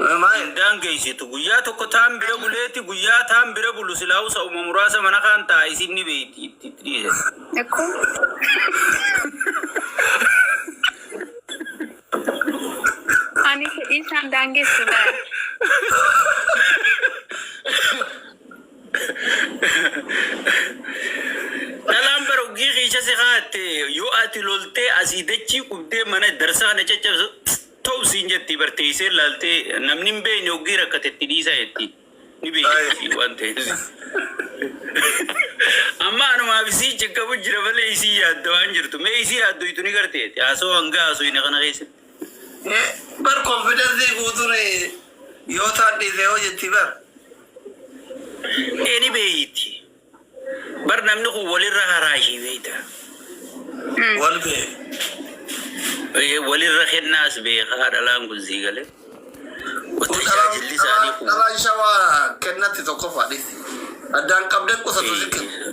Namaa hin daangeysitu. Guyyaa tokko taan bira buleeti guyyaa taan bira bulu silaahuu sa'uma muraasa mana kaan taa'a isin ni beeyti itti itti dhiise. Akkoo. Ani fedhii isaan daangessu laal. Dhalaan bara uggii kiisha si kaatte yoo ati loltee asii dachii qubdee mana darsaa na caccabsu Tau siin jetti bar teeysee laaltee namni hin beeyne hoggii rakkate itti dhiisaa jetti ni beeyti waan taheef amma anumaaf isii cinqamu jira malee isii yaadda waan jirtu mee isii haaddoytu ni garte jetti haasawa hanga haasoyne kana keessatti. Bar confidence guutun yoo taan dhiise hoo jetti bar. Ee ni beeyti Bar namni kun walirra haraa ishii beekta. Wal beeku. Ee walirra kennaas beekaa dhalaan kun sii galee. Kun Utuu dhalaa tajaajilli isaanii dhalaa kun dhalaa shawaa kennatti tokkoffaa dhiisti. Addaan qabdee qusatu si kenna. ee,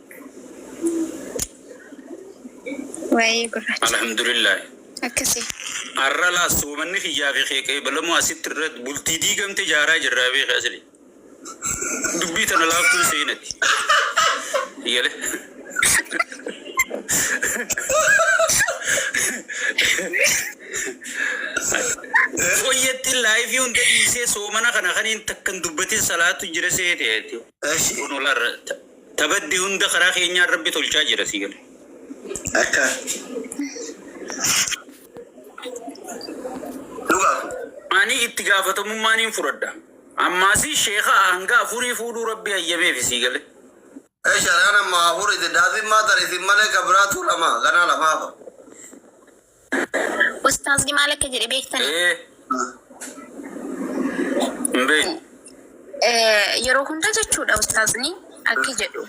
Waa'ee gurraacha. Alhamdulillahi. Akkasi. Arra laas soomanni kiyyaa fi kee qeebalamuu asitti irratti bultii diigamte jaaraa jirraa beeke asli. Dubbii tana laaftuun seenati. Yale. Qoyyattiin laayifii hunda dhiisee soomana kana kaniin takkan dubbatin salaatu jira seete. Kun olarra Ta badde hunda karaa keenyaan Rabbi tolchaa jira sii gale. Akka. Dhugaa kun. Ani itti gaafatamummaa niin fudhadha. Ammaasi sheeka hanga afurii fuudhuu Rabbi hayyameefi sii gale. Esh anaan ammaa afuriti daafin maa tan isin malee ka biraa tuu lama ganaa lafaafa. Ustaazni maal akka jedhe beektanii? Ee hin beeknu. Eh, Yeroo hunda jechuudha ustaazni akki jedhu.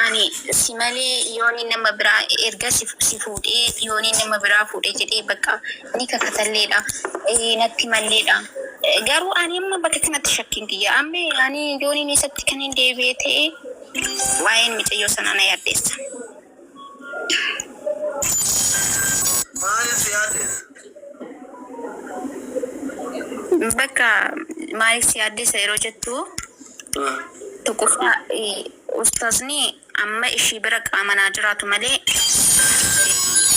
Ani si malee yooni nama biraa erga si si fuudhee yooni nama biraa fuudhe jedhee bakka ni kakatalleedha. Eh, Natti malleedha. Eh, Garuu ani amma bakka kanatti shakkiin kiyya. Amma ani yooniin isatti kan hin deebi'e ta'e waa'een micayyoo sanaa na yaaddeessa. Maal si yaaddessa? Bakka maaliif si yaaddessa yeroo jettu tokkoffaa ustaazni amma ishii bira qaaman haa jiraatu malee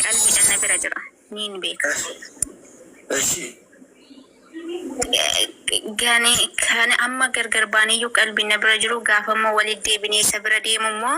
qalbiidhan na bira jira niin beeka. Eshi. Kan kan amma gargar baaneyyuu qalbiin na bira jiru gaafammoo walitti deebinee isa bira deemummoo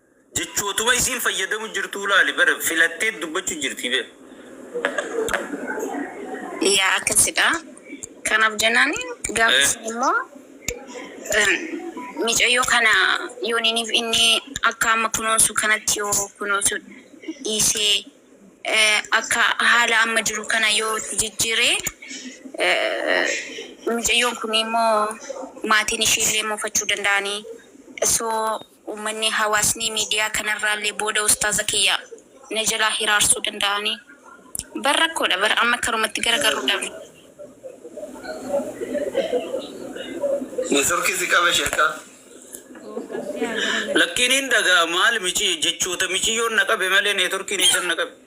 Jechootuma isiin fayyadamu jirtuu laali bar filatteet dubbachu jirtii bar. Yaa akkasidha kanaf jenani gafa sun immo micayyo kana yoniniif inni akka amma kunoonsu kanatti yoo kunoonsu dhiise akka haala amma jiru kana yoo itti jijjire micayyoon kun immo maatiin ishiillee mufachu danda'ani so Uummanni, hawaasni miidiyaa kanarraallee booda ustaaza kiyya na jalaa hiraarsuu danda'anii? Bar rakkoodha bar amma karumatti garagarruu dhabne. Network si qabe shekka. Gooftan si haa garagaru. Lakkiin hin dhaga'a maal micii jechoota miciyyoon na qabe malee networkiin eessan na qabe.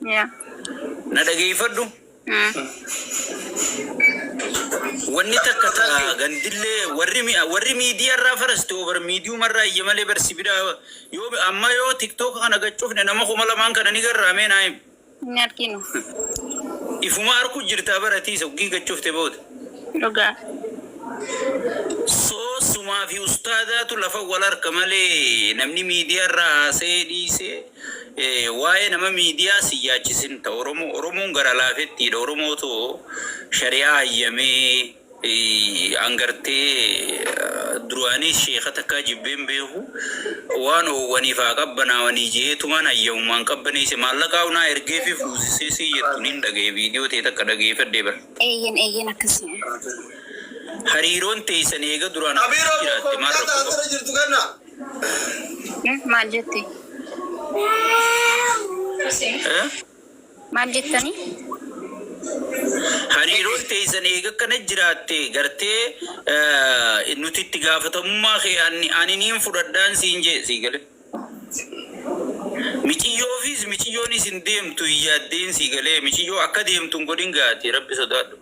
Yeah. Na dhageeffadhu. Wanni takka ta'a gandillee warri mi- warri miidiyaa irraa farasti over miidiyuma irraa iyya malee barsi bira yoo amma yoo tiktook kana gachufne nama kuma lamaan kana ni garraamee naa himu. Inni arginu. Ifuma arku jirtaa baratiisa uggii gachufte booda. Dhugaa. Soo sumaa fi ustaadaatu lafa wal harka malee namni miidiyaa irraa haasa'ee dhiisee Waa'ee nama miidiyaa sin yaachisin ta oromoo oromoon gara laafettiidha oromootu shari'aa hayyamee an gartee duraaniis sheeka takkaa jibbee hin beeku waan oowwaniif haa qabbanaawanii je'eetumaan hayyamumaan qabbaneeyse maallaqaahu naa ergeefii fuusisee siin jettu niin dhagaye viidiyoo tee takka dhageeyfadhee bar. Eeyyen eeyyen akkasii. Hariiroon teeysan eega duraan akkasii jiraatte maal rakkoo qaba. Eh, maal jette? Eh? Maal jettani? Hariiroon teessan eega akkana jiraatte gartee eh, nuti itti gaafatamummaa kee ani ani niin fudhadhaan siin jee sii gale. Miciyyoofis miciyyoon isin deemtu hin yaaddeen sii galee miciyyoo akka deemtu hin godhin gaati rabbi sodaadhu.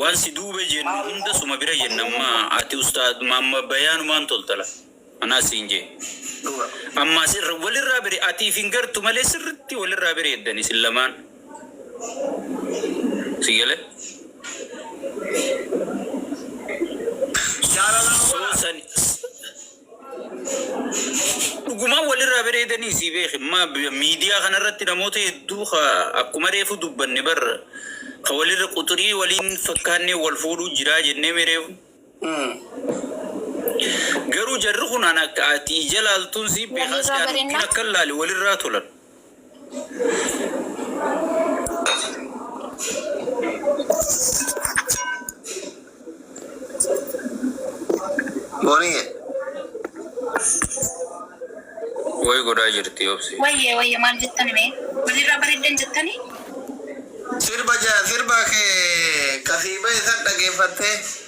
Waan si duube jennu hunda suma bira jenna amma ati ustaaz Muhammad bayaanumaan toltala anaa siin jee Dhuga. Ammaa sirra walirraa bire atiif hin gartu malee sirritti walirraa bireeddan isin lamaan si gale? Jaalalaa So obola. sani Dhugumaan walirraa bareedanii sii beeke ma miidiyaa kanarratti namoota hedduu ka akkuma reefu dubbanne bar ka walirra quxurii walii hin fakkaanneen wal fuudhuu jiraa jenneemii reefu. Garuu jarri kun an akka ati ija laaltuun sii beekaa si an ukkin akkan laale walirraa tolan. Boniyye. Way godhaa jirti obsi. Wayye wayye maal jettani mee? Walirraa bareeddan jettani? Sirba ja sirba kee kasii bahe san dhageeffattee.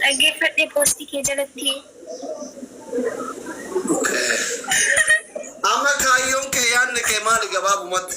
Dhaggeeffadhe post kee jalatti. Amma kaayyoon kee yaadni kee maali gabaabumatti?